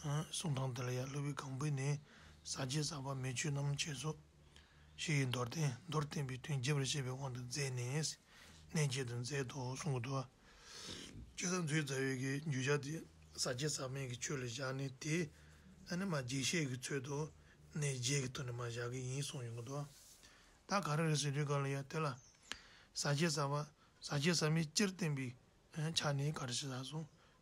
གསུང་དང་དེ་ལ་ཡང་གླུ་བའི་གང་བུས་ནི། ཟ་བྱེད་ཟ་བར་མི་ཆུད་རྣམ་འབྱེད་སོགས། ཞེས་ཡི་འདོར་བསྟན་མདོར་བསྟན་པའི་དོན་རྒྱས་པར་བཤད་པའི་དབང་དུ་མཛད་ནས། གནས་བརྒྱད་དུ་མཛད་དོ་གསུང་གི་དུ་བ། ཅི་ཙམ་མཛོད་རྩ་བའི་གི་རྒྱུད་སྦྱར་ཏེ། ཟ་བྱེད་ཟག་མེད་ཀྱི་ཆོས་ལ་བཞག་ནས་དེ། ཨ་ནི་མ་བརྒྱད་བཤད་ཀྱི་ཚོད་དུ། གནས་བརྒྱད་ཀྱི་དོན་ནི་མ་བཞག་གི་ཡིན་གསུང་ཡོང་གི་དུ་བ། ད་ག་རེ་རེ་ཟེར་དུས་ག་ལ་ཡོད་དེ་ལ། ཟ་བྱེད་ཟ་བ། ཟ་བྱེད་ཟ་མེད་སྤྱིར་བསྟན་པའི། ཆ་ནི་ག་རེ་ཞེ་ས་གསུང།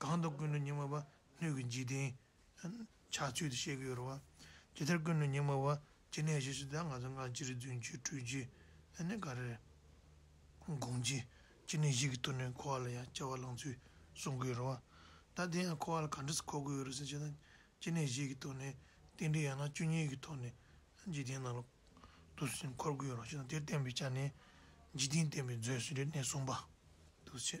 གང་དུ་ཀུན་ནས་སྙིགས་མ་བ་སྣོད་ཀྱི་འཇིག་རྟེན། ཕྱག་མཆོད་དུ་བཤད་ཀྱི་ཡོད་རེད་བ། ཇི་ལྟར་ཀུན་ནས་སྙིགས་མ་བ། ཇི་ནས་ཞེས་ཟེར་ད་ང་ཚོ་སྔར་ཅི་རིགས་རྫུན་གྱིས་དྲུད་རྗེས་ད་ནི་ག་རེ་དགོངས་ཀྱི། ཅི་ནས་ཞིག་གི་བསྟུན་ནས་ཁོ་བ་ལ་ཡང་སྐྱེ་བ་བླངས་ཚུལ་གསུང་གི་ཡོད་རེད་བ། ད་དེ་ཡང་ཁོ་བ་ལ་ག་འདྲ་སུ་གོ་དགོས་ཡོད་རེད་ཟེར་བྱས་ད། ཅི་ནས་ཞིག་གི་བསྟུན་ནས་རྟེན་འབྲེལ་ཡང་ན་བཅུ་གཉིས་ཀྱི་ཐོག་ནས་འཇིག་རྟེན་ནང་ལ་དུ་ཟིན་འཁོར་དགོས་ཡོད་རེད་ཟེར་ད་དེར་བརྟེན་པའི་ཆ་ནས། འཇིག་རྟེན་བརྟེན་པའི་མཛོད་ཟེར་བའི་གནས་གསུམ་པ། དུ་བྱས།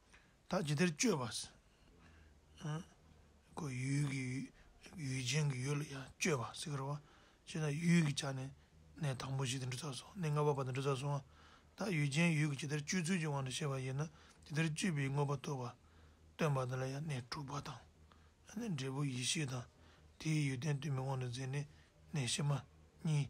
བདག་ཇི་བདེར་སྤྱོད་པ། ཀོ། ཡུལ་གྱི་ཡུལ་ཅན་གྱི་ཡུལ་ལ་ཡང་སྤྱོད་པ་སེ་གར་བ། ཅེ་ན་ཡུལ་གྱི་ཆ་ནས་གནས་དང་པོ་བཞི་དང་འབྲུ་ཚ་སོགས་གནས་ལྔ་པ་བ་དང་འབྲུ་ཚ་སོང་བ། བདག་ཡུལ་ཅན་ཡུལ་གྱི་ཇི་བདེར་སྤྱོད་ཚུལ་གྱི་དབང་དུ་བྱས་པ་ཡིན་ན་ཇི་བདེར་སྤྱོད་པའི་དངོས་པོ་སྟོན་པ། སྟོན་པ་ལ་ཡང་གནས་དྲུག་པ་དང། འབྲས་བུ་ཡེ་ཤེས་དང་དེའི་ཡོན་ཏན་ལྟོས་མེད་དབང་དུ་མཛད་ནས་གནས་ཕྱི་མ་གཉིས།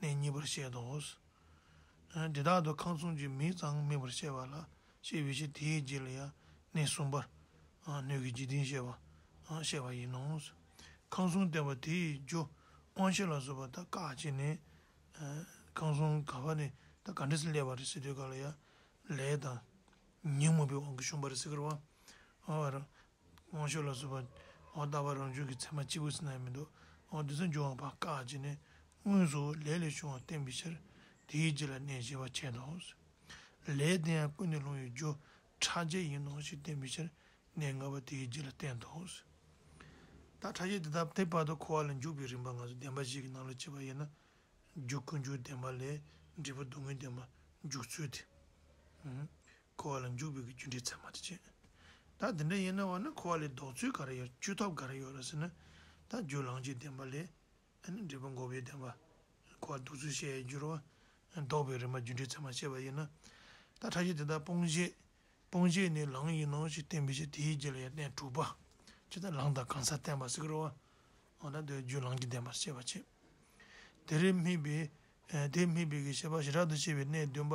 གནས་གཉིས་པར་བཤད་དོ། འདི་དག་ཏུ་ཁང་བཟུང་གི་མིས་ཙང་སྨིན་པར་བཤད་པ་ལ་ཞེས་བའི་ཕྱིར་དེའི་རྗེས་ལ་ཡང་གནས་གསུམ་པར་སྣོད་ཀྱི་འཇིག་རྟེན་བཤད་པ་བཤད་པ་ཡིན་ནོ། ཁང་བཟུང་བསྟན་པ་དེའི་རྒྱུ་དབང་ཕྱི་ལ་བཟོད་པ་ད་གའ་བྱས་ནས། ཁང་བཟུང་ག་བ་ནས་ད་ག་འདྲེ་སྲི་ལས་པ་རི་སྲི་དུད་ག་ལ་ཡ། ལས་དང། ཉིན་མོ་པའི་དབང་གིས་ཤུན་པ་རི་སྲི་ཁར་བ། དབང་ཤུགས་ལ་བཟོད་པ། འོག་རྟ་བབས་རང་བྱུང་གི་མཚན་མ་གཅིག་པུ་སེར་ནག་ཡིན་མི་འདུག་འོག་རྡུལ་ཚོན་འབྱུང་བ་བར་བཀག་བྱས་ནས། དངོས་སུ་ལས་ལས་བྱུང་བ་བསྟན་པའི་ཕྱིར། དེའི་རྗེས་ལ་གནས་ཞེས་པ་འཆད་དོ། ལས་དེ་ཡང་ཀུན་ནས་ལྷུང་བའི་རྒྱུ། ཕྲ་རྒྱས་ཡིན་ནོ་ཞེས་བསྟན་པའི་ཕྱིར། གནས་ལྔ་པོ་དེའི་རྗེས་ལ་བསྟན་ཏོ། ད་ཕྲ་རྒྱས་དེ་དག་དེ་བར་དུ་འཁོར་བ་ལ་འཇུག་པའི་རིམ་པ་ང་ཚོ་བདེན་པ་གཞན་གྱི་རྣམ་ལ་དཔྱད་པ་དབྱེ་ན། རྒྱུ་ཀུན་འབྱུང་བདེན་པ་ལས་འབྲས་བུ་སྡུག་བསྔལ་བདེན་པ་འཇུག་ཚུལ་ཏེ། འཁོར་བ་ལ་འཇུག་པའི་རྒྱུ་འབྲས་ཚད་མ་དེ་བྱེད། ད་དེ་འདྲ་ཡིན་ན་བ་ན་འཁོར་བ་ལས་ལྡོག་ཚུལ་ག་རེ་ཡོད་བཅོས་ཐབས་ག་རེ་ཡོད་རེད་ཟེར་ན། ད་རྒྱུ་ལང་རྒྱུའི་བདེན་པ་ལས་འབྲས་བུ་འགོག་པའི་བདེན་པ། འཁོར་བ་ལྡོག་ཚུལ་བཤད་ཡས་རྒྱུར་བ་ན་ལྡོག་པའི་རིམ་པ་རྒྱུ་འབྲས་ཚད་མ་བཤད་པ་ཡིན་ན། ད་ཕྲ་ཞིག་དེ་དག་སྤོང་བྱེད་སྤོང་བྱེད་ནི་ལང་ཡིན་ནོ་ཞེས་བསྟན་པའི་ཕྱིར་དེའི་རྗེས་ལ་ཡང་བསྟན་དྲུག་པ། ཅི་ལྟར་ལང་དང་གང་ཟག་བསྟན་པ་སིཀ་རོ་བ། འོ་ན་དེ་རྒྱུ་ལང་གི་བདེན་པར་ཤེས་པར་བྱེད། དེ་རེ་སྨིས་པས་དེ་སྨིས་པས་ཀྱི་ཤེས་པ་ཞི་དྲག་ཏུ་ཕྱེ་བའི་གནས་བདུན་པ་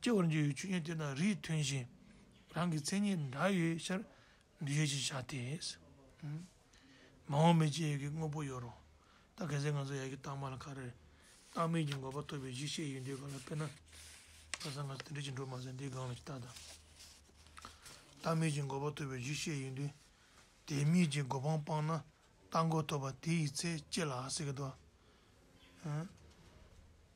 སྐྱེ་བར་འགྱུར་བའི་ཆོས་ཉིད་དེ་དང་རིས་མཐུན་ཞིང་རང་གི་མཚན་ཉིད་འདྲ་ཡོད་ཕྱིར་འདུས་ཡོད་ཅེས་བྱ་སྟེ། མ་འོངས་པའི་སྐྱེ་ཡུལ་གྱི་དངོས་པོ་ཡོད་རུང་ད་གེ་སེར་ང་ཚོ་ཡར་གྱི་རྟགས་མ་ལ་ཁ་རེར་རྟགས་མེད་ཀྱི་འགོག་པ་ཐོབ་པའི་གཞི་ཤེས་ཡོད་འདོད་པ་ལ་དཔེར་ན། ལྷ་ས་ང་ཚོ་དེ་འདྲའི་ཅི་འགྲོ་མ་ཟད་འདིའི་སྒང་ལ་ཅི་ལྟར་དང། རྟགས་མེད་ཀྱི་འགོག་པ་ཐོབ་པའི་གཞི་ཤེས་ཡོད་འདོད་དེ་མེད་ཀྱི་འགོག་པའང་སྤངས་ན་རྟགས་འགོག་ཐོབ་པ་དེ་ཡི་ཚེ་སྐྱེ་ལ་ཟེར་གི་འདུག་ཨང།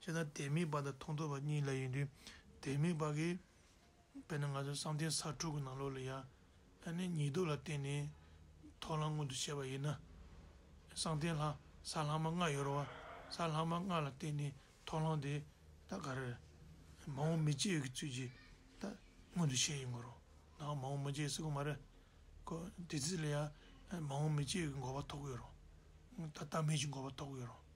སྤྱིར་ན་དེ་མིན་པ་དང་མཐོང་ཐོས་པ་གཉིས་ལས་ཡིན་དུས་དེ་མིན་པ་གིས། དཔེར་ན་ང་ཚོ་བསམ་གཏན་ས་དྲུག་གི་ནང་ལོགས་ལ་ཡང་ནི་ཉིས་ལྡོག་ལ་བརྟེན་ནས་ཐོག་ལྷ་མངོན་དུ་བྱས་པ་ཡིན་ན། བསམ་གཏན་ལྷ་ས་ལྷག་མ་ལྔ་ཡོད་རུང་ས་ལྷག་མ་ལྔ་ལ་བརྟེན་ནས་ཐོག་ལྷ་དེ་དག་ག་རེ་རེད། མ་འོངས་མི་སྐྱེ་ཡོད་ཀྱི་ཚུལ་གྱིས་ད་མངོན་དུ་བྱས་ཡིན་གོ། ད་མ་འོངས་མི་སྐྱེ་སྲིད་ཀྱི་མ་རེད་ཀོ། དེ་ཚུལ་ལ་ཡང་མ་འོངས་མི་སྐྱེ་ཡོད་ཀྱི་འགོག་པ་ཐོག་གི་ཡོད་རུང། ད་ལྟ་མེད་ཀྱི་འགོག་པ་ཐོག་གི་ཡོད་རུང།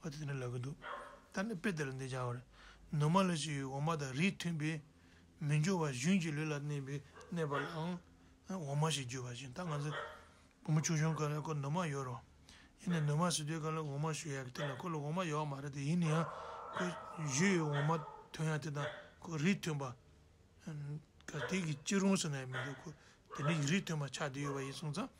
བ་དེ་འདྲ་ལབ་གི་འདུག་ད་ནི་དཔེ་དེ་ལ་འདི་སྦྱར་བ་རེད། ནུ་མ་ལ་ཞིག་འོ་མ་དང་རིས་མཐུན་པས་མི་འབྱུང་བར་གཞུན་གྱི་ལུས་ལ་གནས་པའི་གནས་པ་ལའང་འོ་མ་ཞེས་བརྗོད་པ་བཞིན་ད་ང་ཚོས་བུ་མོ་ཆུང་ཆུང་ག་ལ་ཁོ་ནུ་མ་ཡོད་རུང་ཡིན་ནའི་ནུ་མ་ཟེར་དུས་ག་ལ་འོ་མ་ཞུ་ཡ་གི་དེ་ལ་ཁོ་ལ་འོ་མ་ཡོད་མ་རེད་དེ་ཡིན་ན་ཡང་ཁོས་བཞུས་ཡོད་འོ་མ་དོན་ཡང་དེ་དང་ཁོ་རིས་མཐུན་པ་ག་དེ་གི་ཅི་རུང་ཟེར་ན་ཡང་མི་འདུག་ཁོ་དེ་འདྲའི་རིས་མཐུན་པ་ཆགས་བསྡད་ཡོད་པ་ཡིན་གསུངས་ཙང།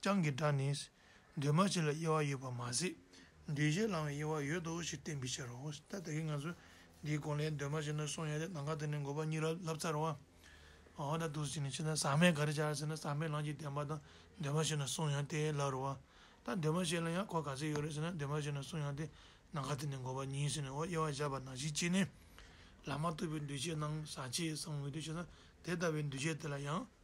རྐྱང་གི་སྒྲ་ནི། འདུས་མ་བྱས་ལ་དབྱེ་བ་ཡོད་པར་མ་ཟད། འདུས་བྱས་ལའང་དབྱེ་བ་ཡོད་དོ་ཞེས་བསྟན་པའི་ཕྱིར་རོ། ད་ལྟ་གི་ང་ཚོས་འདིའི་དགོངས་ལས་འདུས་མ་བྱས་ནས་གསུངས་ཡོད་དེ་ནམ་མཁའ་དེ་ནི་འགོག་པ་གཉིས་རབ་ལྷབ་ཚར་བ། འོ་ན་དུས་གཅིག་ནས་ཕྱི་ནང་ཟག་མེད་ག་རེ་བྱ་ཟེར་ན་ཟག་མེད་ལམ་གྱི་བདེན་པ་དང་འདུས་མ་བྱས་ནས་གསུངས་ཡོད་དེ་ལ་རོ། ད་འདུས་མ་བྱས་ལ་ཡང་གོ་ག་ཚད་ཡོད་རེད་ཟེར་ན་འདུས་མ་བྱས་ནས་གསུངས་ཡོད་དེ་ནམ་མཁའ་དེ་ནི་འགོག་པ་གཉིས་ཟེར་ནས་འོ་དབྱེ་བ་བཞག་པ་ན་གཞི་གཅིག་ནི། ལམ་མ་ཐོབ་པའི་འདུས་བྱས་ནང་ཟག་བཅས་སམ་ངོ་ཏི་བྱས་ན་དེ་ལྟ་བུའི་འདུས་བྱས་དེ་ལ་ཡང།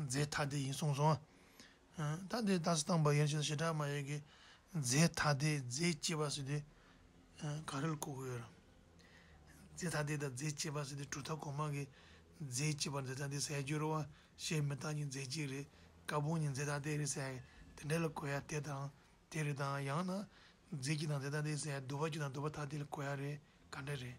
རྫས་ཐ་དད་ཡིན་གསུངས་སོ། ད་དེ་ད་སི་ཐང་བ་ཡན་ཆད་ཞེ་དྲག་མ་ཡོད་ཀྱི། རྫས་ཐ་དད་རྫས་སྐྱེས་པ་སི་དེ་ག་རེ་ལ་གོ་དགོས། རྫས་ཐ་དད་དང་རྫས་སྐྱེས་པ་སི་དེ་གྲུབ་མཐའ་གོང་མ་གི། རྫས་སྐྱེས་པ་རྫས་ཐ་དད་ཟེར་ཡ་འགྱུར་རོ། ཞེས་མི་རྟག་གཉིས་རྫས་སྐྱེས་རེད། ཀ་བུང་གཉིས་རྫས་ཐ་དད་རེད་ཟེར་ཡ་དེ་འདྲ་ལ་གོ་ཡ་དེ་དང་དེ་རེད་དང་ཡང་ན། རྫས་སྐྱེས་དང་རྫས་ཐ་དད་ཟེར་ཡ་དུ་བ་སྐྱེས་དང་དུ་བ་ཐ་དད་ལ་གོ་ཡ་རེད་ག་འདྲ་རེད།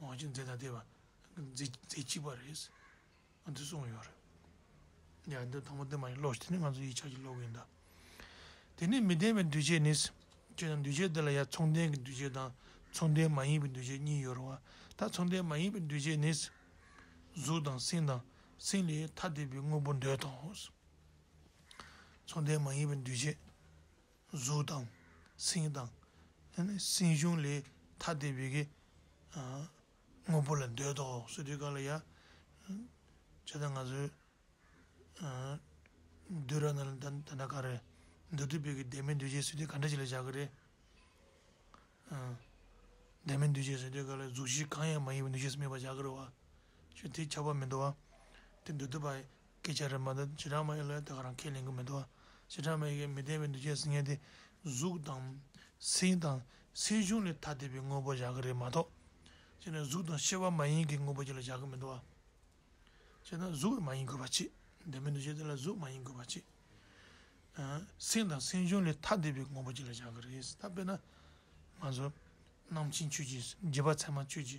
ཝང་ཅུན་ཛེ་དང་ལྟེ་བ་མཛེས་སྐྱིད་པ་རེད། ཨ་འདི་གསུངས་ཡོད་རེད། ཡ་འདི་དང་པོ་འདི་མ་ཡིན་ལོགས་ཀྱི་དེ་ནི་ང་ཚོ་ཡིག་ཆ་གྱི་ལོགས་ཡིན་ད། དེ་ནས་མི་ལྡན་པའི་འདུས་བྱས་ནི། ཅེས་དང་འདུས་བྱས་འདི་ལ་ཡང་མཚུངས་ལྡན་གྱི་འདུས་བྱས་དང་མཚུངས་ལྡན་མ་ཡིན་པའི་འདུས་བྱས་གཉིས་ཡོད་རུང་བ་ད་མཚུངས་ལྡན་མ་ཡིན་པའི་འདུས་བྱས་ནི། གཟུགས་དང་སེམས་དང་སེམས་ལས་ཐ་དད་པའི་དངོས་པོ་འདོད་དོ། མཚུངས་ལྡན་མ་ཡིན་པའི་འདུས་བྱས། གཟུགས་དང། སེམས་དང། སེམས་གཞུང་ལས་ཐ་དད་པའི་གེགས། དངོས་པོ་ལ་འདོད་དོ། སོ་སོའི་ཀཱི་ལ་ཡ། ཇི་ལྟར་ང་ཚོའི། འདོད་ར་ན་ད་ད་ན་ག་རེ། འདོད་དུ་བས་ཀྱི་བདེན་མེད་འདུས་བྱས་སུ་དེ་ག་འདྲ་ཅིག་ལ་བཞག་གི་རེད། བདེན་མེད་འདུས་བྱས་སུ་དེ་ག་ལ་གཟུགས་གཞི་གང་ཡང་མ་ཡིན་པའི་འདུས་བྱས་སུ་སྨྲས་པ་བཞག་གི་རེད་བ། ཞེས་དེ་ཁྱབ་པ་མི་འདུག་བ། དེ་འདོད་དུ་བ། སྐད་ཆ་རེ་མ་ད་ཇེ་དྲང་མ་ཡོད་ལ་ད་ག་རང་ཁས་ལེན་གི་མི་འདུག་ཇེ་དྲང་མ་ཡོད་ཀྱི་མི་བདེན་པའི་འདུ་ཤེས་ཟེར་མཁན་དེ་གཟུགས་དང། སེམས་དང། སེམས་གཞུང་ལས་ཐ་དད་པའི་དངོས་པོ་བཞག་གི་རེད་མ་གཏོགས། སྤྱིར་ན་གཟུགས་དང་ཤེས་པ་མ་ཡིན་གྱི་དངོས་པོ་གཅིག་ལ་བཞག་གི་མི་འདུག་སྤྱིར་ན་གཟུགས་ལ་མ་ཡིན་དགོས་པ་གཅིག་བདེན་པའི་འདུ་ཤེས་དེ་ལ་གཟུགས་མ་ཡིན་དགོས་པ་གཅིག། སེམས་དང་སེམས་གཞུང་ལས་ཐ་དད་པའི་དངོས་པོ་གཅིག་ལ་བཞག་གི་རེད་ད་དཔེར་ན། ང་ཚོ། རྣམ་མཁྱེན་ཆོས་ཀྱི་རྗེ་བ་ཚད་མ་ཆོས་ཀྱི་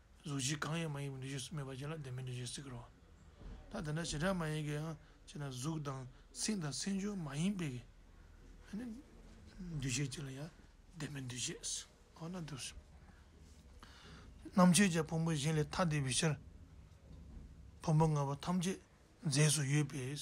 གཟུགས་གཞི་གང་ཡང་མ་ཡིན་པའི་འདུ་ཤེས་སུ་སྨོས་པ་བཅས་ལ་བདེན་པའི་འདུ་ཤེས་ཟེར་གི་རོ། ད་དེ་འདྲ་བྱེ་བྲག་མ་ཡིན་གྱི་ཡང་ཅེ་ན་གཟུགས་དང་སེམས་དང་སེམས་བྱུང་མ་ཡིན་པའི་འདུ་ཤེས་བཅས་ལ་ཡང་བདེན་པའི་འདུ་ཤེས་ཟེར་གོ། རྣམ་དཔྱོད་ཀྱི་ཕུང་པོ་གཞན་ལས་ཐ་དད་པའི་ཕྱིར། ཕུང་པོ་ལྔ་པོ་ཐམས་ཅད་རྫས་སུ་ཡོད་པས།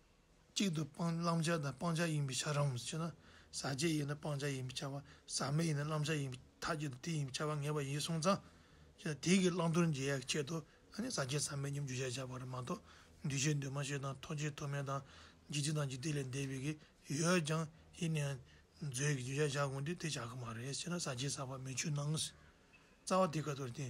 གཅིག་ཏུ་སྤང་བླང་བྱ་དང་སྤང་བྱ་ཡིན་པའི་ཆ་རང་མི་ཆོད་ན། ཟག་བཅས་ཡིན་ན་སྤང་བྱ་ཡིན་པའི་ཆ་བ་ཟག་མེད་ཡིན་ན་བླང་བྱ་ཡིན་པའི་ཐ་ཀྱི་དེ་ཡིན་པའི་ཆ་བ་ངེས་པ་ཡིན་གསུངས་ཙང། དེས་དེ་ཀྱི་བླང་དོར་འབྱེད་ཡ་གི་ཆེད་དུ་ན་ནི་ཟག་བཅས་ཟག་མེད་སྙོམས་འཇུག་བྱ་བྱ་བ་རེ་མ་གཏོགས་འདུས་བྱས་འདུས་མ་བྱས་དང་ཐོགས་བཅས་ཐོགས་མེད་དང་འཇིག་ཚེ་དང་འཇིག་ལྟས་ལས་འདས་པའི་གི་ཡོད་ཀྱང་ཡིན་ནའི་མཛོད་ཀྱི་འཇུག་བྱ་བྱ་དགོངས་ཏེ་དེ་བྱ་གི་མ་རེད་ཅེ་ན་ཟག་བཅས་ཟག་པ་མི་ཆོད་ནའང། རྩ་བ་དེ་ཀ་ཏོར་ཏེ།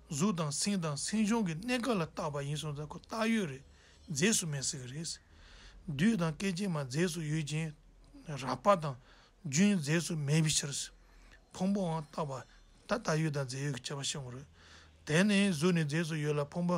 གཟུགས་དང་སེམས་དང་སེམས་བྱུང་གི་གནས་ག་ལ་བཏགས་པ་ཡིན་སོགས་ལ་ཁོ་བཏགས་ཡོད་རེད་རྫས་སུ་མེད་ཟེར་གི་རེད། བདུད་དང་སྐད་ཅིག་མ་རྫས་སུ་ཡོད་ཅིང། རགས་པ་དང་རྒྱུན་རྫས་སུ་མེད་པའི་ཕྱིར། ཕུང་པོའང་བཏགས་པ། ད་ལྟ་ཡོད་དང་རྫས་ཡོད་ཀྱི་ཁྱད་པར་ཤེས་ངོ། དེ་ནས་གཟུགས་ནི་རྫས་སུ་ཡོད་ལ་ཕུང་པོ་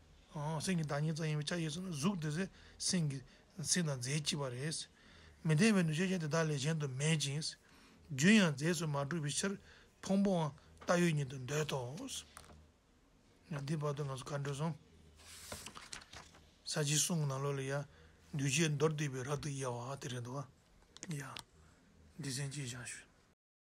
སེམས་ཀྱི་བདག་ཉིད་ཙམ་ཡིན་པའི་ཆ་ཤས་སུ་ན་གཟུགས་དེ་ཚེ་སེམས་ཀྱི་སེམས་དང་རྫས་གཅིག་པ་རེད། མི་བདེ་བའི་འདུ་ཤེས་ཀྱང་དེ་དག་ལས་གཞན་དུ་མེད་ཅིང། རྒྱུན་ཡང་རྫས་སུ་མ་གྲུབ་པའི་ཕྱིར་ཕུང་པོའང་བཏགས་ཡོད་ཉིད་དུ་འདོད་དོ། འདི་བར་དོ་ང་ཚོ་མཁའ་འགྲོའི་གསུང། ས་བྱིའི་གསུང་གི་ནང་ལོགས་ལས་ཡ། འདུས་བྱས་མདོར་བསྡུས་པའི་རབ་ཏུ་དབྱེ་བ་དེ་རེད་འདུག་ག། ཡ། འདི་ཟན་ཅིག་བཞག་ཞུ།